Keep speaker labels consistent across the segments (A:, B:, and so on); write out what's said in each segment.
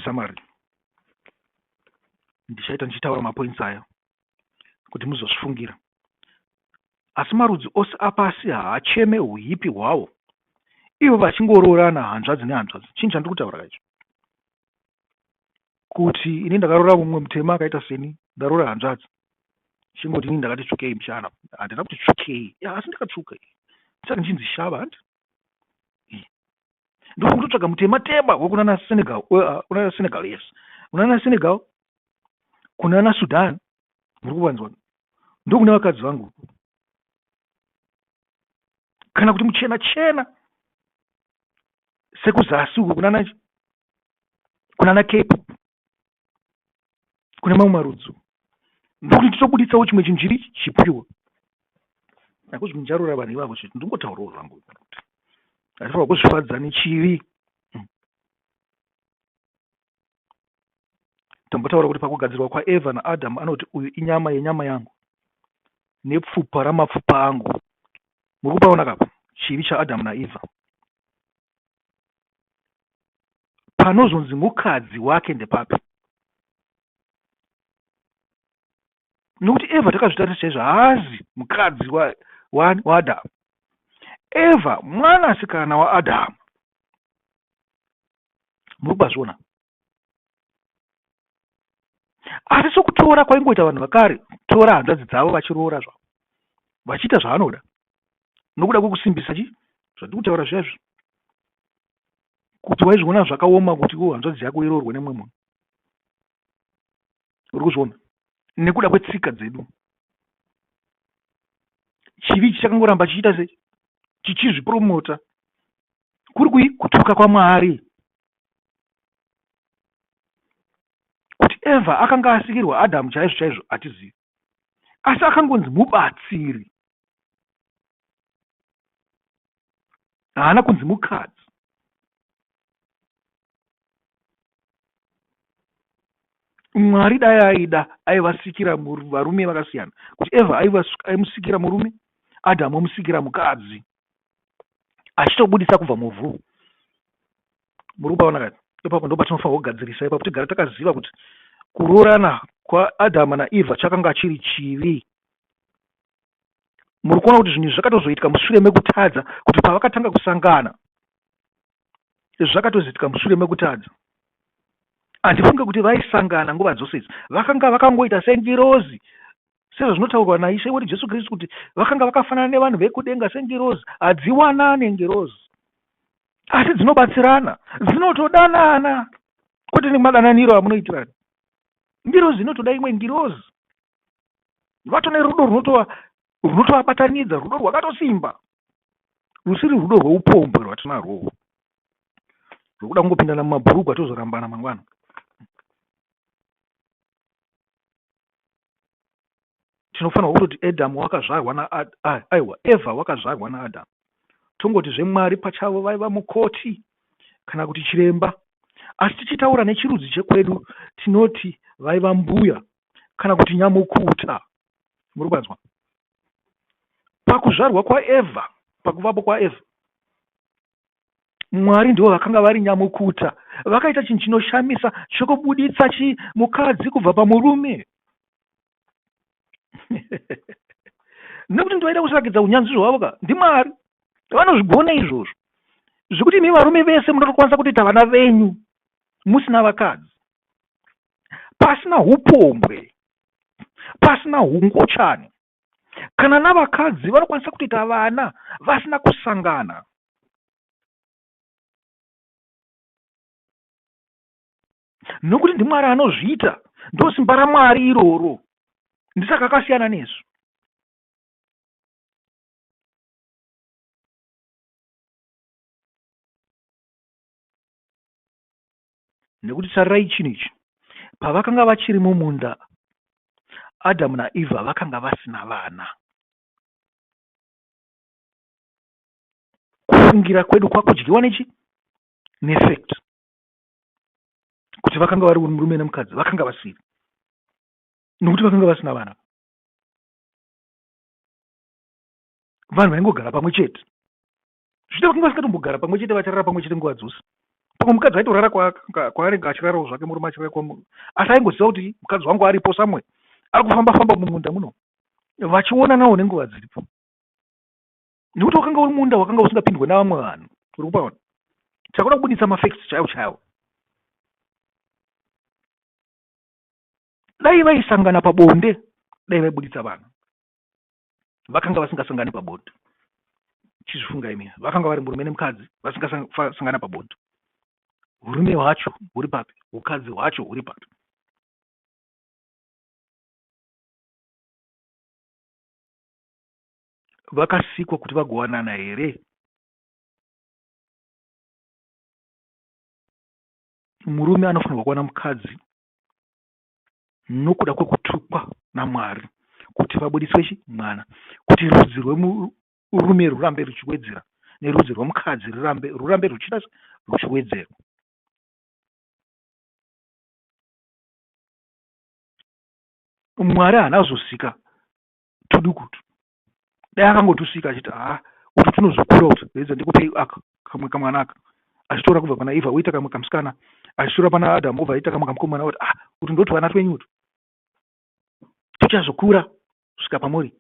A: summary ndichaita ndichitaura mapoints aya kuti muzozvifungira asi marudzi ose apasi haacheme uhipi hwawo ivo vachingoroorana hanzvadzi nehanzvadzi chinhu chandiri kutaura kaicho kuti ini ndakaroora mumwe mutema akaita seni ndaroora hanzvadzi chingoti ini ndakati tsvukei mushana handina kuti tsvukei asi ndakatsvuka saka ndichinzi shava handi ndikuda kutotsvaga mutema tema wekunana senegal uh, kunana senegal yes kunana senegal kunana sudan muri kuvanzwa ndokune vakadzi vangu kana kuti muchena chena sekuzasi uko kunana kunana cape kune mamwe marudzi ndokuti titobuditsawo chimwe chinhu chiri chipiwo nakuti ndicharora vanhu ivavo chete ndingotaurawo zvangu kuti hatifanira kuzvifadza nechivi hmm. tambotaura kuti pakugadzirwa kwaeva naadhamu anoti uyu inyama yenyama yangu nepfupa ramapfupa angu muri kupaona kapa chivi chaadhamu naeva panozonzi mukadzi wake ndepapi nokuti eva takazvitarisa chaizvo haazi mukadzi waadhamu eva mwanasikana waadhamu muri kubazviona asi sokutora kwaingoita vanhu vakare tora hanzvadzi dzavo vachiroora zvavo vachiita zvavanoda nokuda kwekusimbisa chi zvandiri kutaura zviyazvi kuti waizviona zvakaoma kuti wo hanzvadzi yako iroorwe nemumwe munhu uri kuzviona nekuda kwetsika dzedu chivi chichakangoramba chichiita se chichizvipromota kuri kui kutuka kwamwari Kuti Evha akanga asikirwa Adhamu chaizvo chaizvo hatizivi, asi akangonzi mubatsiri. Haana kunzi mukadzi. Mwari dai aida aivasikira varume vakasiyana, kuti Evha aimusikira murume, Adhamu omusikira mukadzi. achitobudisa kubva muvhu muri kupaona kani ipapo ndo patinofanirwa kugadzirisa ipapo tigara takaziva kuti kuroorana kwaadhama naevha chakanga chiri chivi muri kuona kuti zvinhu izvi zvakatozoitika mushure mekutadza kuti pavakatanga kusangana zvakatozoitika mushure mekutadza handifunge kuti vaisangana nguva dzose idzi vakanga vakangoita sengirozi Sezvazvinotaurwa naIshe wedu Jesu Kristu kuti vakanga vakafanana nevanhu vekudenga sengirozi, hadziwanane ngirozi, asi dzinobatsirana, dzinotodanana, kwete nemadananiro amunoitirana. Ngirozi inotoda imwe ngirozi, vato nerudo runotovabatanidza, rudo rwakatosimba, rusiri rudo rweupombwe rwatinarwowo rwekuda kungopindana mumabhurugwa tozorambana mangwana. tinofanirwa kutoti adamu wakazvarwa naaiwa evha wakazvarwa naadamu tongoti zvemwari pachavo vaiva mukoti kana kuti chiremba asi tichitaura nechirudzi chekwedu tinoti vaiva mbuya kana kuti nyamukuta muri kwanzwa pakuzvarwa kwaevha pakuvapo kwaevha Mwari ndivo vakanga vari nyamukuta. Vakaita chinhu chinoshamisa chokubuditsa chi mukadzi kubva pamurume. Nekuti ndivaida kusarakidza unyanzvi hwavo ka ndiMwari. Vanozvigona izvozvo. Zvekuti imi varume vese munotokwanisa kutoita vana venyu musina vakadzi. Pasina upombwe. Pasina hungochani. kana navakadzi vanokwanisa kutoita vana vasina kusangana nokuti ndimwari anozviita ndosimba ramwari iroro ndisaka akasiyana nesu Nekuti tarirai chinhu ichi, pavakanga vachiri mumunda, Adhamu naEvha vakanga vasina vana. Kufungira kwedu kwakudyiwa nechi nefact kuti vakanga vari murume nemukadzi vakanga vasiri nokuti vakanga vasina vana vanhu vaingogara pamwe chete zvichita kuti vasingatombogara pamwe chete vacharara pamwe chete nguva dzose pamwe mukadzi aitorara kwaanenge achirarawo zvake murume achirara kwa asi aingoziva kuti mukadzi wangu aripo samwe ari kufamba famba mumunda muno vachionanawo nenguva dziripo nekuti wakanga uri munda wakanga usingapindwe navamwe vanhu uri kupaona chakuda kubuditsa mafacts chaiwo chaiwo dai vaisangana pabonde dai vaibuditsa vanhu vakanga vasingasangani pabonde chizvifunga imi vakanga vari murume nemukadzi vasingasangana pabonde urume hwacho huri papi ukadzi hwacho huri papi vakasikwa kuti vagowanana here murume anofanirwa kuwana mukadzi nokuda kwekutukwa naMwari kuti vabudiswe mwana, kuti rudzi rwemurume rwurambe rwuchiwedzera nerudzi rwemukadzi rwurambe rwurambe rwuchiita rwuchiwedzerwa. Mwari haana kuzosika tudukutu dai akangotusvika achiti haa utu tunozokura utu reidza ndikupei aka kamwe kamwana aka achitora kubva pana eva oita kamwe kamusikana achitora pana adamu obva aita kamwe kamukomana oti ah utu ndotuvana twenyu utu tuchazokura svika pamuri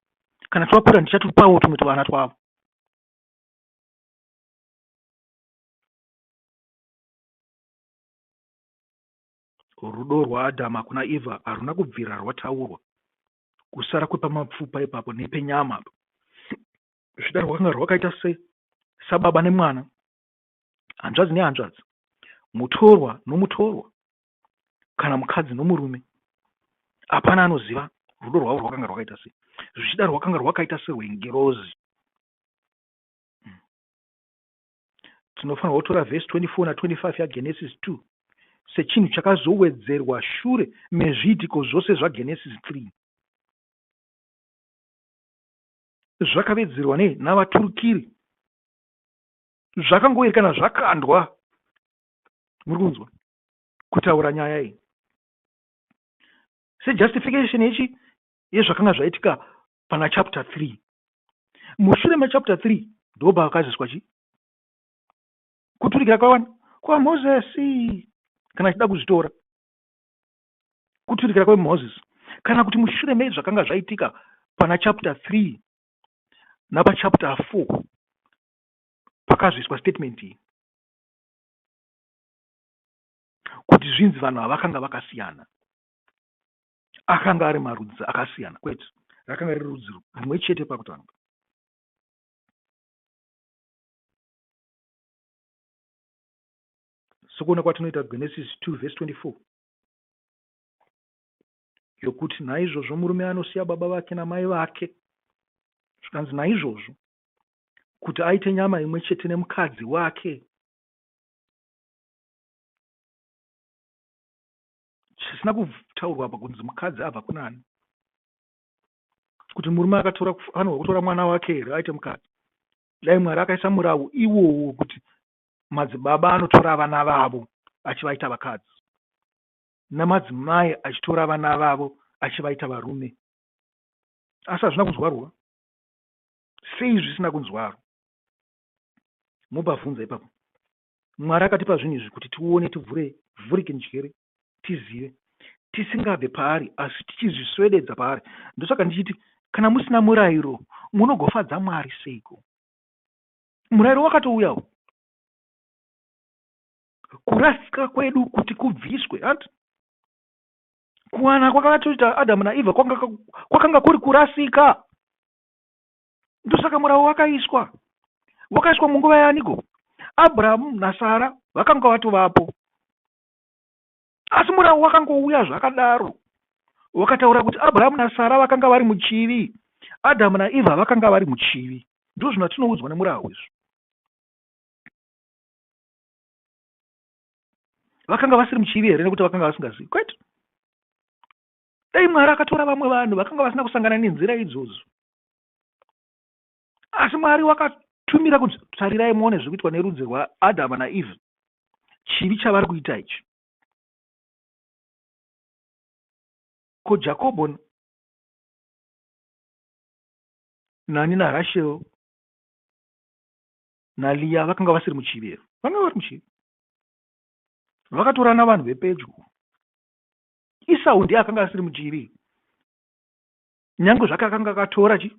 A: kana twakura ndichatupawo tumwe tuvana twavo rudo rwaadhamu hakuna eva haruna kubvira rwataurwa kusara kwepamapfupa ipapo nepenyama apa zvichida rwakanga rwakaita se sababa nemwana hanzvadzi nehanzvadzi mutorwa nomutorwa kana mukadzi nomurume hapana anoziva rudo rwavo rwakanga rwakaita sei zvichida rwakanga rwakaita serwengirozi tinofanirwa kutora vhesi 24 na 25 yaGenesis 2 sechinhu chakazowedzerwa shure mezviitiko zvose zvaGenesis 3. Zvakavedzerwa nei navaturikiri? Zvakangoerekana zvakandwa, muri kunzwa, kutaura nyaya iyi sejustification yechi yezvakanga zvaitika pana chapter 3 mushure mechapter 3 ndobva vakazoiswa chi kuturikira kwavana kwamozesi kana achida kuzvitora kuturikira kwamoses kana kuti mushure mezvakanga zvaitika pana chapter 3 napachapter 4 pakazoiswa statement iyi kuti zvinzi vanhu havakanga vakasiyana akanga ari marudzi akasiyana kwete rakanga riri rudzi rimwe chete pakutanga sokuona kwatinoita genesis 2 vhesi 24 yokuti naizvozvo murume anosiya baba vake namai vake zvikanzi naizvozvo kuti aite nyama imwe chete nemukadzi wake chisina kutaurwa apa kunzi mukadzi abva kunani kuti murume akatora anoga kutora mwana wake here aite mukadzi dai mwari akaisa murawu iwowo kuti madzibaba anotora vana vavo achivaita vakadzi namadzimai achitora vana vavo achivaita varume asi hazvina kunzwarwa sei zvisina kunzwarwa mubva vhunza ipapo Mwari akatipa zvinhu izvi kuti tione, tivhure, vhurike njere, tizive, tisingabve paari asi tichizviswededza paari. Ndosaka ndichiti kana musina murairo munogofadza Mwari seiko? Murairo wakatouyawo kurasika kwedu kuti kubviswe hanti kuwana kwakatoita Adamu naEvha kwakanga kuri kurasika. Ndosaka murau wakaiswa. Wakaiswa munguva yaaniko? Abrahamu naSara vakanga vatovapo. Asi murau wakangouya zvakadaro. Wakataura kuti Abrahamu naSara vakanga vari muchivi. Adamu naEvha vakanga vari muchivi. Ndozvino tinoudzwa nemurau izvo. vakanga vasiri muchivi here nekuti vakanga vasingazivi kwete Dai Mwari akatora vamwe vanhu vakanga vasina kusangana nenzira idzodzo. Asi Mwari wakatumira kuti tarirai muone zviri kuitwa nerudzi rwaAdhama naEvha, chivi chavari kuita ichi. Ko Jakobho nani naRashel naLiya vakanga vasiri muchivi here? Vanga vari muchivi. Vakatorana vanhu vepedyo Isau ndiye akanga asiri mudyiri nyange zvake akanga akatora chi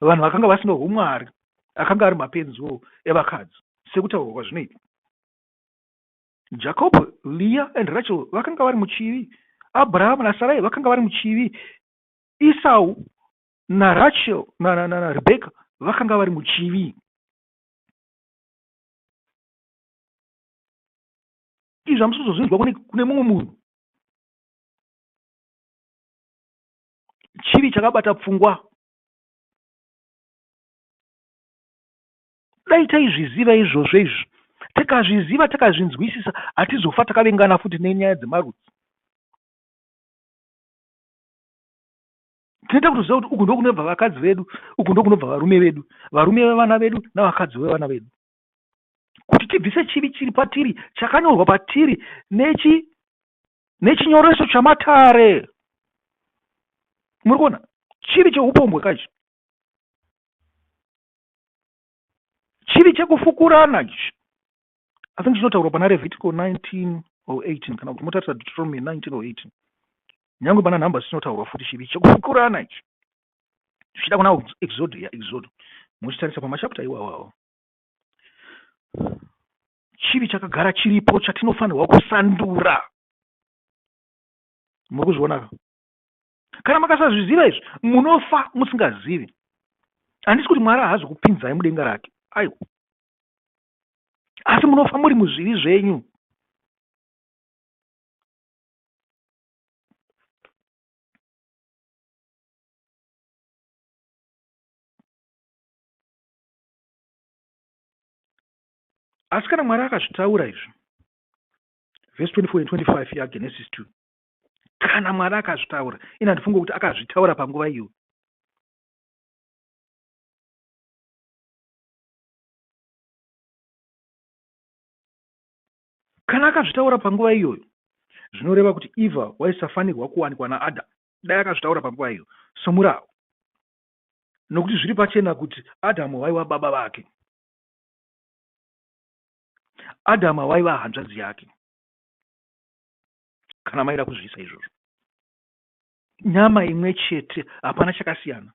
A: vanhu vakanga vasina humwari akanga ari mapenziwo evakadzi sekutaurwa kwazvinoita jacob leah and rachel vakanga vari muchivi abraham nasarai vakanga vari muchivi isau narachel narebeka vakanga vari muchivi Izvi hamusi kuzozvinzwa kune, kune mumwe munhu. Chivi chakabata pfungwa. Dai taizviziva izvozvo izvi, tikazviziva takazvinzwisisa, hatizofa takavengana futi nenyaya dzemarudzi. tinoita kutoziva kuti uku ndokunobva vakadzi vedu uku ndokunobva varume vedu varume vevana vedu navakadzi vevana vedu kuti tibvise chivi chiri patiri chakanyorwa patiri nechi nechinyoreso chamatare muri kuona chivi cheupombwe kaichi chivi chekufukurana ichi i think chinotaurwa pana levitico 19 or 18 kana kuti motarisa deuteronomy 19 or 18 nyange pana nhamba zvichinotaurwa futi chivi chekufukurana ichi zvichida kuna exodo ya exodo muchitarisa pamachapta iwawawo chivi chakagara chiripo chatinofanirwa kusandura muri kuzvionaka kana makasazviziva izvi munofa musingazivi handisi kuti mwari haazi kupinzai mudenga rake aiwa asi munofa muri muzvivi zvenyu asi kana mwari akazvitaura izvo vhesi 24 and 25 yagenesis 2 kana mwari akazvitaura ini handifunge kuti akazvitaura panguva iyo kana akazvitaura panguva iyoyo zvinoreva kuti eva waisafanirwa kuwanikwa naadam dai akazvitaura panguva iyo somurawo nokuti zviri pachena kuti Adhamu vaiva baba vake. Adhamu vaiva hanzvadzi yake, kana maida kuzviisa izvozvo. Nyama imwe chete, hapana chakasiyana.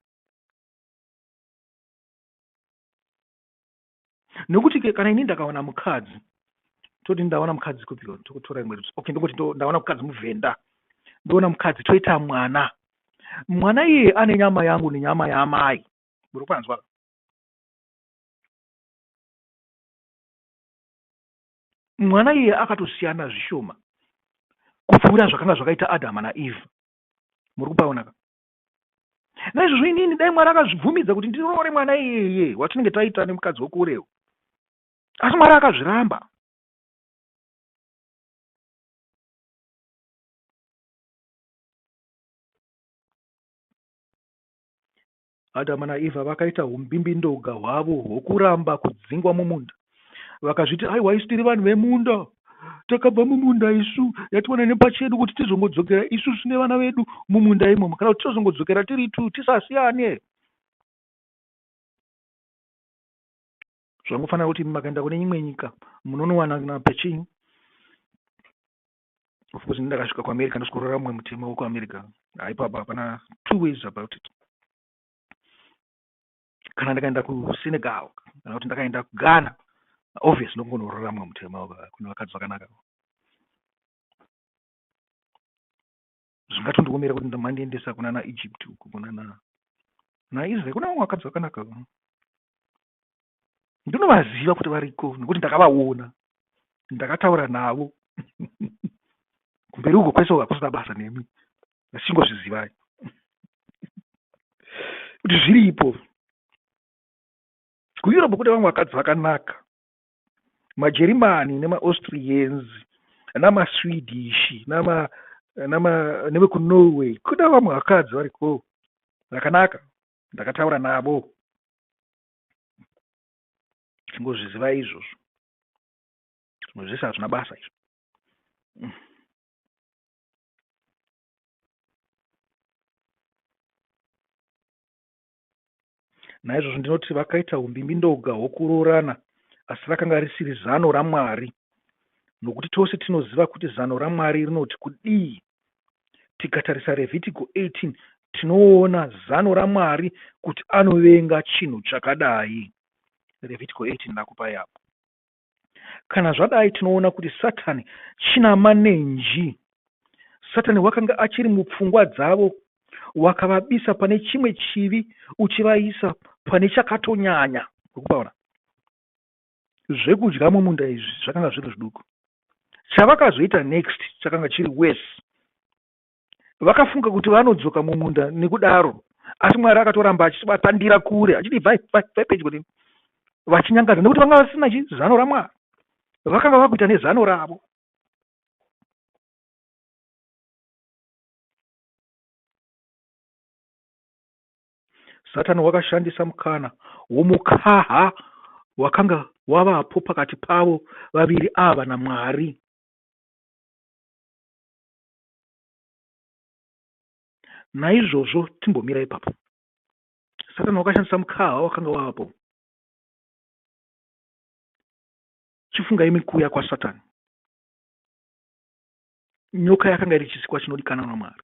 A: nekuti ke kana ini ndakawana mukadzi toti ndaona mukadzi kupi tokutora imwe okay ndongoti ndaona mukadzi muvhenda ndoona mukadzi toita mwana mwana iye ane nyama yangu nenyama yaamai muri kwanzwa mwana iye akatosiyana zvishoma kupfuura zvakanga zvakaita adhama naeve muri kupaonaka naizvozvo inini dai mwari akazvibvumidza kuti ndiroore mwana iyeye watinenge taita nemukadzi wekurewo asi mwari akazviramba adama naevha vakaita umbimbindoga hwavo hwokuramba kudzingwa mumunda Vakazviti aiwa isu tiri vanhu vemunda takabva mumunda isu yatiwana nepachedu kuti tizongodzokera isu sine vana vedu mumunda imomo kana kuti tozongodzokera tiri tu tisasiyane zvangofanira kuti makaenda kune imwe nyika munonowana na pechinyu of course ndakasvika kuamerica ndoskorora mumwe mutemo wekuamerica haipapa hapana two ways about it kana ndikaenda kusenegal kana kuti ndakaenda kughana obvious ndokunoraramwa mutema kune vakadzi vakanaka zvingatondiomera kuti mandiendesa kunana egypt uku kunana naisrael kuna vamwe vakadzi vakanaka ndinovaziva kuti variko nekuti ndakavaona ndakataura navo kumberi uko kwese uko hakusina basa nemi asi chingozvizivai kuti zviripo kueurope kune vamwe vakadzi vakanaka majerimani nemaaustrians namaswedish nama nevekunorway kune vamwe vakadzi variko vakanaka ndakataura navo chingozviziva izvozvo zvimwe zvese hazvina basa izvo naizvozvo ndinoti vakaita humbimbindoga hwokuroorana asi rakanga risiri zano ramwari nokuti tose tinoziva kuti zano ramwari rinoti kudii tikatarisa revhitiko 18 tinoona zano ramwari kuti anovenga chinhu chakadai revhitiko 18 ndakupai apo Kana zvadai, tinoona kuti Satani chinamanenji. Satani wakanga achiri mupfungwa dzavo, wakavabisa pane chimwe chivi uchivaisa pane chakatonyanya. Ukupaona zvekudya mumunda izvi zvakanga zviri zviduku, chavakazoita next chakanga chiri worse. vakafunga kuti vanodzoka mumunda nekudaro asi mwari akatoramba achivatandira kure achiti vaipedyo neni vachinyangadza nekuti vanga vasina chi zano ramwari vakanga vakuita nezano ravo satani wakashandisa mukana womukaha wakanga wavapo pakati pavo vaviri ava namwari Naizvozvo timbomira ipapo. Satani wakashandisa mukaha wakanga wavapo. Chifunga imi kuuya kwaSatani. Nyoka yakanga iri chisikwa chinodikanwa naMwari,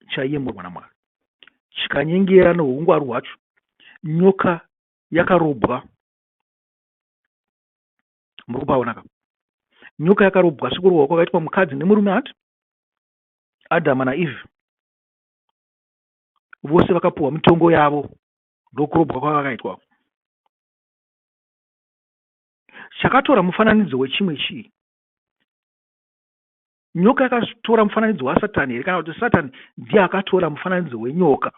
A: chaiyemurwa naMwari, chikanyengera noungwaru hwacho. Nyoka yakarobwa muri kupaona ka nyoka yakarobwa sekurohwa kwakaitwa mukadzi nemurume hati adhama naeve vose vakapuhwa mitongo yavo ndokurobwa kwavakaitwa chakatora mufananidzo wechimwe chii nyoka yakatora mufananidzo wasatani here kana kuti satani ndiye akatora mufananidzo wenyoka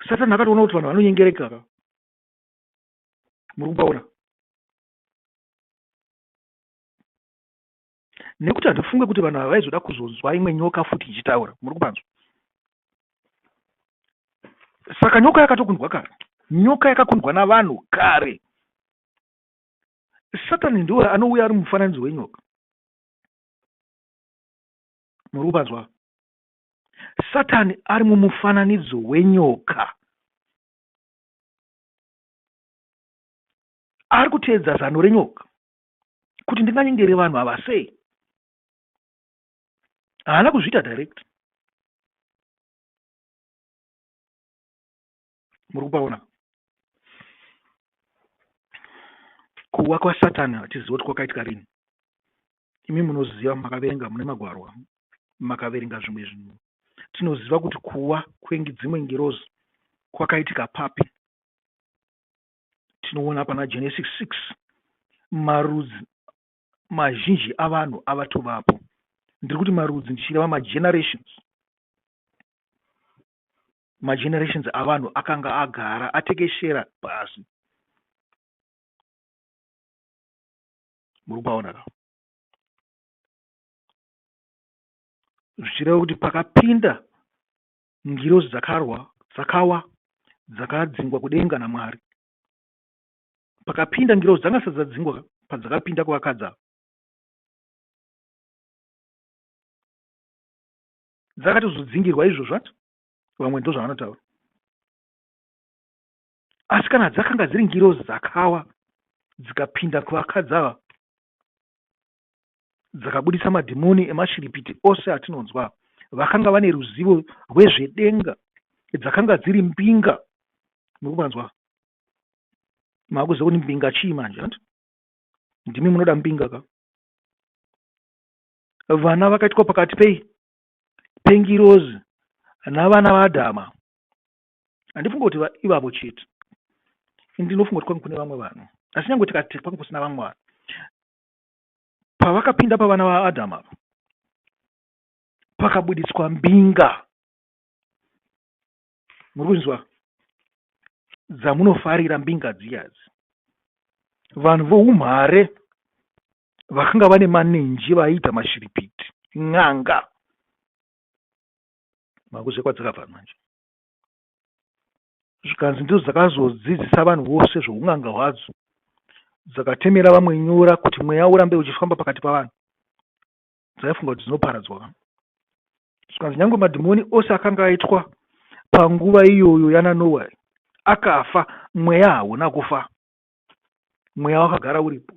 A: satani akatoona kuti vanhu vanonyengereka ava muri kubaona nekuti handifunge kuti vanhu ava vaizoda kuzonzwa imwe nyoka futi ichitaura muri kupanzwa saka nyoka yakatokundwa kare nyoka yakakundwa navanhu kare satani ndiwo anouya ari mufananidzo wenyoka muri kupanzwa Satani ari mumufananidzo wenyoka. Ari kuteedza zano renyoka kuti ndinganyengere vanhu ava sei? Haana kuzviita direct. muri kupaona kuwa kwasatani hatizivi kuti kwakaitika rini imi munoziva makaverenga mune magwarwa makaverenga zvimwe zvinhu tinoziva kuti kuwa kwengi dzimwe ngirozi kwakaitika papi tinoona pana genesis 6 marudzi mazhinji avanhu avatovapo ndiri kuti marudzi ndichireva magenerations magenerations avanhu akanga agara atekeshera pasi muri kupaona ka zvichireva kuti pakapinda ngirozi dzakarwa dzakawa dzakadzingwa kudenga namwari pakapinda ngirozi dzanga sati dzadzingwa padzakapinda kuvakadza dzakatozodzingirwa izvozvo ati vamwe ndozvavanotaura asi kana dzakanga dziri ngirozi dzakawa dzikapinda kuvakadzi ava dzakabudisa madhimoni emashiripiti ose atinonzwa vakanga vane ruzivo rwezvedenga dzakanga dziri mbinga mukuvanzwa makuziva kuti mbinga chii manje ant ndimi munoda mbinga ka vana vakaitwa pakati pei pengirozi navana vaAdhama. Handifunge kuti ivavo chete. Ndinofunga kuti kwange kune vamwe vanhu. Asi nyange tikati kwange kusina vamwe vanhu. Pavakapinda pavana vaAdhama ava, pakabuditswa mbinga. muri kunzwa dzamunofarira mbinga dziyazi vanhu voumhare vakanga vane manenji vaiita mashiripiti n'anga makuzve kwadzakabva manje zvikanzi ndidzo dzakazodzidzisa vanhu vose zvoun'anga hwadzo dzakatemera vamwe nyora kuti mweya urambe uchifamba pakati pavanhu dzaifunga kuti dzinoparadzwa ka zvikanzi nyange madhimoni ose akanga aitwa panguva iyoyo yananowa akafa mweya hauna kufa mweya wakagara uripo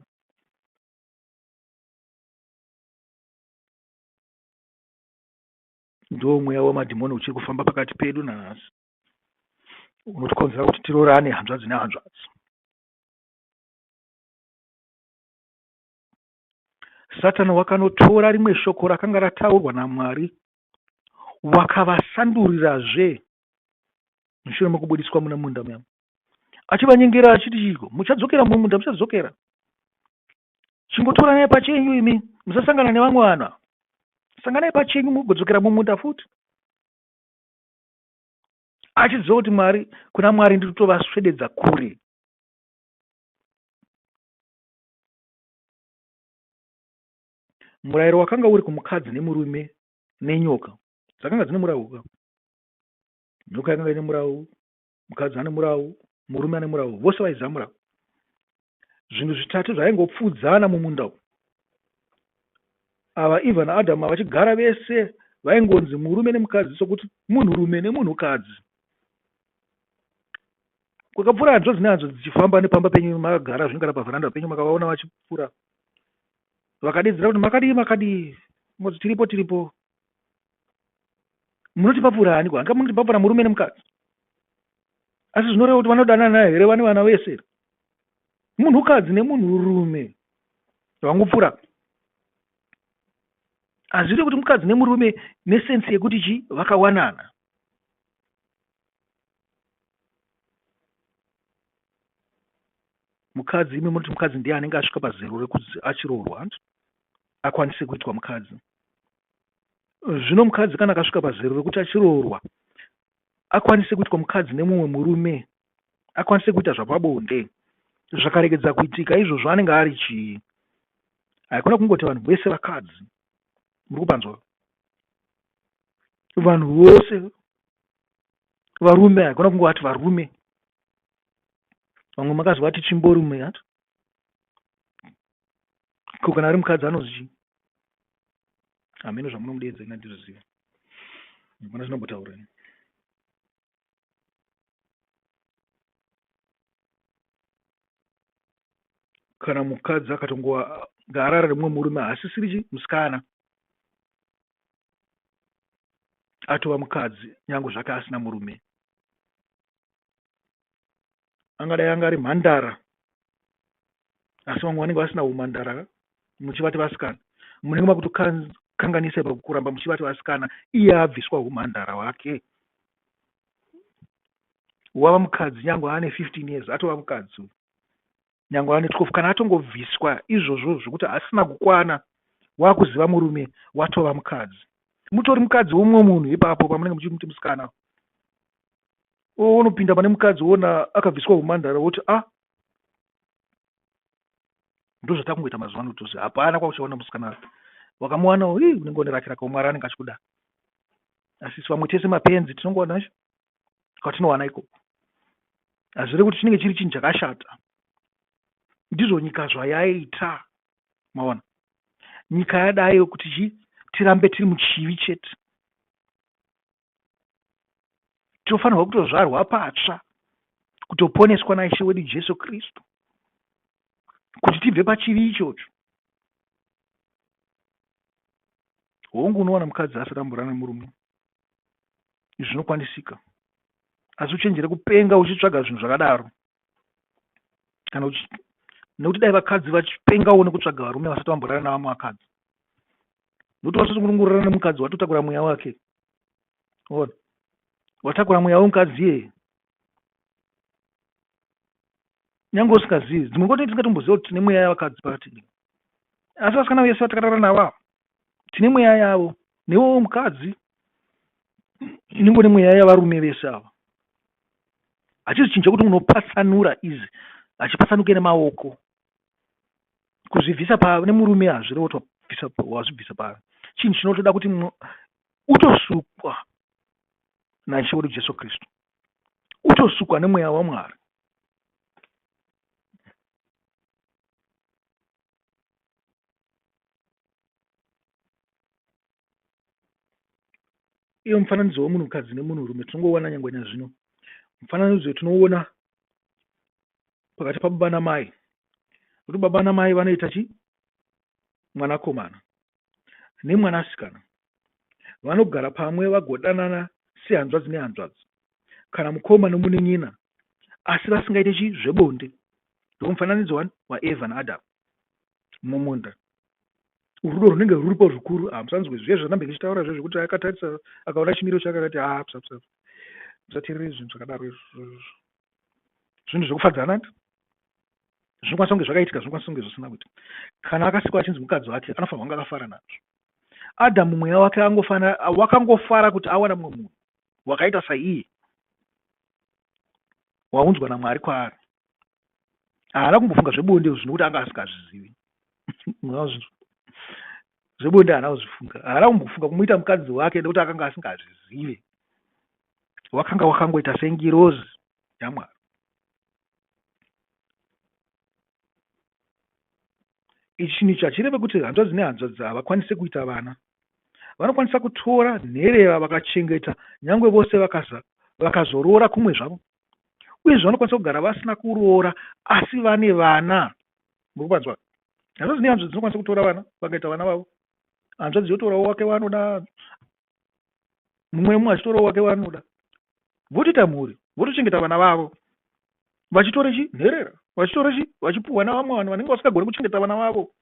A: ndo mweya wemadhimoni uchiri kufamba pakati pedu nanhasi unotikonzera kuti tirorane hanzvadzi nehanzvadzi Satani wakanotora rimwe shoko rakanga rataurwa naMwari wakavasandurirazve mushure mekubudiswa mune munda muya achivanyengera achiti chiko muchadzokera mumwe munda muchadzokera chingotoranai pachenyu imi musasangana nevamwe vanhu sanganai pachenyu mugodzokera mumunda futi achiziva kuti mwari kuna mwari ndiri kutovaswededza kure murayiro wakanga uri kumukadzi nemurume nenyoka dzakanga dzine murau ka nyoka yakanga ine murau mukadzi ane murau murume ane murau vose vaiziva murau zvinhu zvitatu zvaingopfuudzana mumunda umu ava eva naadhamu vachigara vese vaingonzi murume nemukadzi sokuti munhurume nemunhukadzi kwakapfuura hanzvadzi nehanzvadzi dzichifamba nepamba penyu makagara zvingara pavheranda penyu makavaona vachipfuura vakadedzera kuti makadii makadii moti tiripo tiripo munoti papfuura haniko hanga munoti papfuura murume nemukadzi asi zvinoreva kuti vanodanana here vane vana vese munhukadzi nemunhurume vangopfuura hazviri kuti mukadzi nemurume nesensi yekuti chii vakawanana mukadzi imi munoti mukadzi ndiye anenge asvika pazero rekuti achiroorwa hanti akwanise kuitwa mukadzi zvino mukadzi kana akasvika pazero rekuti achiroorwa akwanise kuitwa mukadzi nemumwe murume akwanise kuita zvapabonde zvakaregedza kuitika izvozvo anenge ari chii haikona kungoti vanhu vese vakadzi muri kupanzwa vanhu vose varume haigona kunge vati varume vamwe makazi vati chimbori mumwe yati ko kana ari mukadzi anozi chii hameno zvamunomudeedza ina ndizviziva mukona zvinambotaureni kana mukadzi akatongowa ngaarara rimwe murume haasisiri chi musikana atova mukadzi nyange zvake asina murume angadai anga ari mhandara asi vamwe vanenge vasina humhandara ka muchivati vasikana munenge makutokanganisa ipa kuramba muchivati vasikana iye abviswa humhandara hwake wava mukadzi nyange aane 15 years atova mukadzi uyu nyangwe ane 12 kana atongobviswa izvozvo zvekuti asina kukwana wakuziva murume watova mukadzi mutori mukadzi womumwe munhu ipapo pamunenge muchimuti musikana wonopinda pane mukadzi wona akabviswa humandara woti a ah, ndozvatakungoita mazuva ano tose hapana kwakuchaona musikana wakamuwana unenge one rake rakaomwara anenge achikuda asi vamwe tese mapenzi tinongoona kwatinowana ikoko hazvire kuti chinenge chiri chinhu chakashata ndizvo nyika zvayaita maona nyika yadayo kuti chi tirambe tiri muchivi chete tinofanirwa kutozvarwa patsva kutoponeswa naishe wedu jesu kristu kuti tibve pachivi ichocho hongu unowana mukadzi asatamburana murume izvi zvinokwanisika asi uchenjere kupenga uchitsvaga zvinhu zvakadaro kana nekuti dai vakadzi vachipengawo nekutsvaga varume vasati vamborara navamwe vakadzi nekuti vasati kunongorara nemukadzi watotakura mweya wake ona watakura mweya wemukadzi iyeye nyange usingazivi dzimwe nguva tinenge tisingatomboziva kuti tine mweya yavakadzi pakati asi vasikana vese vatakarara navo ava tine mweya yavo newewo mukadzi inenge une mweya yavarume vese ava hachizichinja kuti unopatsanura izi hachipatsanuke nemaoko kuzvibvisa pave nemurume hazvirevo wazvibvisa pave chinhu chinotoda kuti utosukwa naishe wedu jesu kristu utosukwa nemweya wamwari iyo mufananidzo wemunhukadzi nemunhurume tinongowana nyangwe nazvino mufananidzo tinoona pakati pababa namai kuti baba namai vanoita chi mwanakomana nemwanasikana vanogara pamwe vagodanana sehanzvadzi nehanzvadzi kana mukoma nomunin'ina asi vasingaite chi zvebonde ndomufananidzo wani waeva naadam mumunda rudo runenge ruripo zvikuru hamusanzwe zviya zvanambe ndichitaura zve zvekuti akatarisa akaona chimiro chake akati haa psa psa musateerere zvinhu zvakadaro izvo zvinhu zvekufadzana zvinokwanisa kunge zvakaitika zvinokwanisa kunge zvisina kuita kana akasikwa achinzi mukadzi wake anofanirwa kunge akafara nazvo adhamu mweya wake wakangofara kuti awana mumwe munhu wakaita saiye waunzwa namwari kwaari haana kumbofunga zvebonde izvo zvinokuti anga asikazvizivi zvebonde haana kuzvifunga haana kumbofunga kumuita mukadzi wake nekuti akanga asingazvizive wakanga wakangoita sengirozi yamwari Ichi nicho hachireve kuti hanzvadzi nehanzvadzi havakwanise kuita vana. Vanokwanisa kutora nherera vakachengeta nyangwe vose vakazoroora kumwe zvavo. Uyezve vanokwanisa kugara vasina kuroora asi vane vana. Muri kupanzwa? Hanzvadzi nehanzvadzi dzinokwanisa kutora vana vakaita vana vavo. Hanzvadzi yotorawo wake waanoda mumwe nemumwe achitorawo wake waanoda votoita mhuri votochengeta vana vavo vachitora chi nherera vachitora chi vachipuhwa navamwe vanhu vanenge vasingagoni kuchengeta vana vavo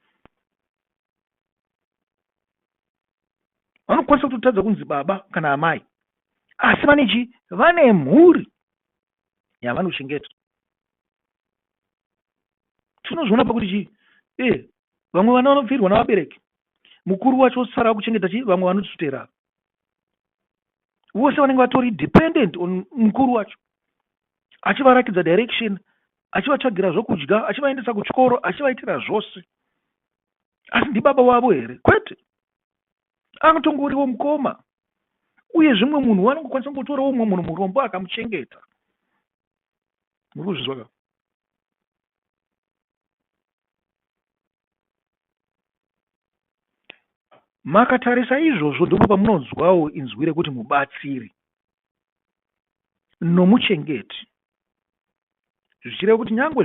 A: vanokwanisa kutotadza kunzi baba kana amai asi vane chi vane mhuri yavanochengeta tinozviona pakuti chii ee vamwe vana vanopfirwa navabereki mukuru wacho osara akuchengeta chii vamwe vanotisutera vose vanenge vatori dependent on mukuru wacho achivarakidza direction achivatsvagira zvokudya achivaendesa kuchikoro achivaitira zvose asi ndibaba wavo here kwete anotongoriwo mukoma uye zvimwe munhu wanongokwanisa kungotorawo umwe munhu murombo akamuchengeta muri kuzvizwa ka makatarisa izvozvo ndipo pamunonzwawo inzwi rekuti mubatsiri nomuchengeti zvichireva kuti nyangwe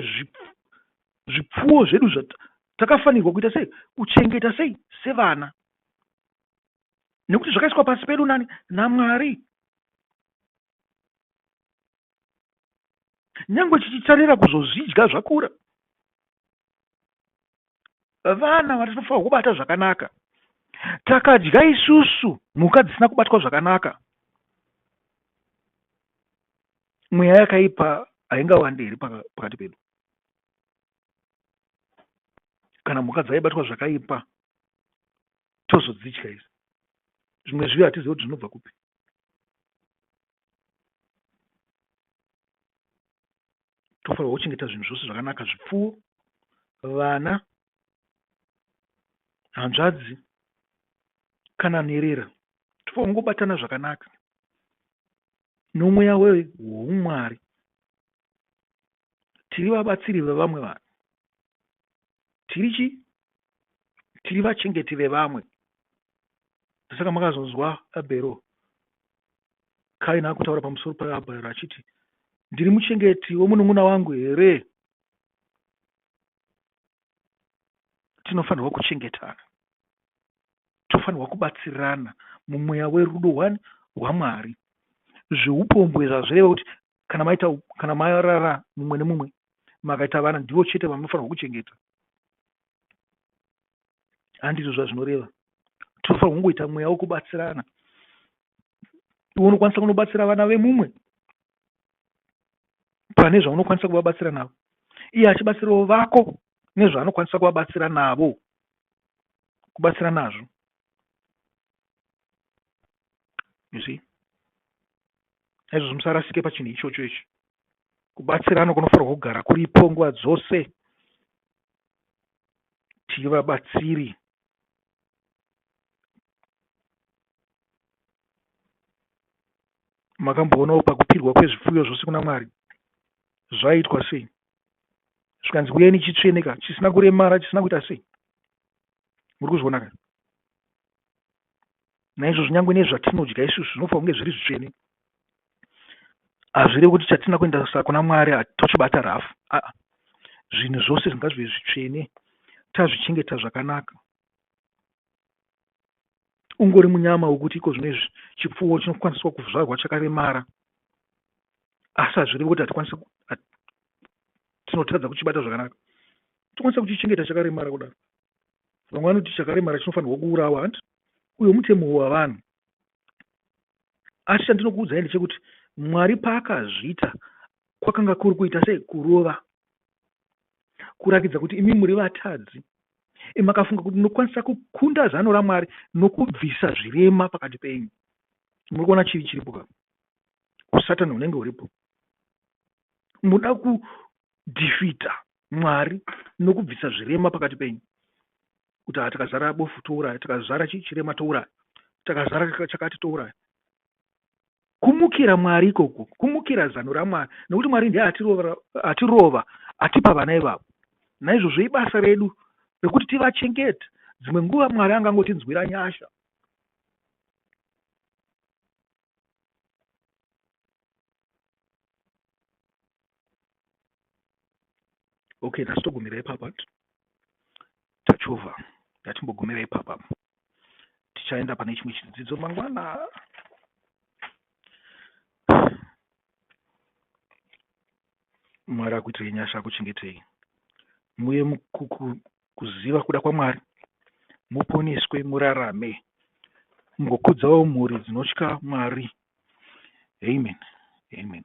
A: zvipfuwo zvedu takafanirwa kuita sei kuchengeta sei sevana nekuti zvakaiswa pasi pedu nani namwari Nyangwe chichitarira kuzozvidya zvakura. Vana vatinofanirwa kubata zvakanaka. Takadya isusu mhuka dzisina kubatwa zvakanaka. Mweya yakaipa haingawande here pakati pedu? Kana mhuka dzaibatwa zvakaipa tozodzidya isu zvimwe zviyo hatizivi kuti zvinobva kupi tofanirwa kuchengeta zvinhu zvose zvakanaka zvipfuwo vana hanzvadzi kana nherera tofanirwa kungobatana zvakanaka nomweya weumwari tiri vabatsiri vevamwe vanhu tiri chi tiri vachengeti vevamwe ndosaka makazonzwa abhero kaina akutaura pamusoro paabhero achiti ndiri muchengeti wemunun'una wangu here tinofanirwa kuchengetana tofanirwa kubatsirana mumweya werudo hwani hwamwari zveupombwe zvazvireva kuti kana maita kana marara mumwe nemumwe makaita vana ndivo chete vanofanirwa kuchengeta handizvo zvazvinoreva tinofanirwa kungoita mweya wekubatsirana iwe unokwanisa kunobatsira vana vemumwe pane zvaunokwanisa kuvabatsira navo iye achibatsirawo vako nezvaanokwanisa kuvabatsira navo kubatsira nazvo you see naizvozvo musarasike pachinhu ichocho ichi kubatsirana kunofanirwa kugara kuripo nguva dzose tiri vabatsiri makamboonawo pakupirwa kwezvipfuyo zvose kuna mwari zvaitwa sei zvikanzi uyeni chitsveneka chisina kuremara chisina kuita sei muri kuzvionaka naizvozvo nyange nezvatinodya isusu zvinofanira kunge zviri zvitsvene hazvirevi kuti chatina kuendasa kuna mwari tochibata rafu aa zvinhu zvose zvingazve zvitsvene tazvichengeta zvakanaka ungori munyama wokuti iko zvino izvi chipfuwo chinokwaniswa kuzvarwa chakaremara asi hazvirevi kuti hatikwanisi tinotadza kuchibata zvakanaka tokwanisa kuchichengeta chakaremara kudaro vamwe vanoti chakaremara chinofanirwa kuurawa hanti uyo mutemo wavanhu asi chandinokuudzai ndechekuti mwari paakazviita kwakanga kuri kuita sei kurova kurakidza kuti imi muri vatadzi makafunga kuti munokwanisa kukunda zano ramwari nokubvisa zvirema pakati penyu muri kuona chii chiripo ka usatani hunenge huripo muda kudhifita Mwari nokubvisa zvirema pakati penyu. Kuti haa takazara bofu touraya, takazara chirema touraya, takazara chakati touraya. Kumukira Mwari ikoko, kumukira zano raMwari, nokuti Mwari ndiye atirova, atirova atipa vana ivavo. Naizvozvo ibasa redu rekuti tivachengete. Dzimwe nguva Mwari angangotinzwira nyasha. okay nhasi togumira ipapa tachovha ngatimbogumira ipapa tichaenda pane chimwe chidzidzo mangwana mwari akuitirei nyasha akuchengetei muye kuziva kuda kwaMwari, muponeswe murarame mugokudzawo mhuri dzinotya Mwari. Amen. Amen.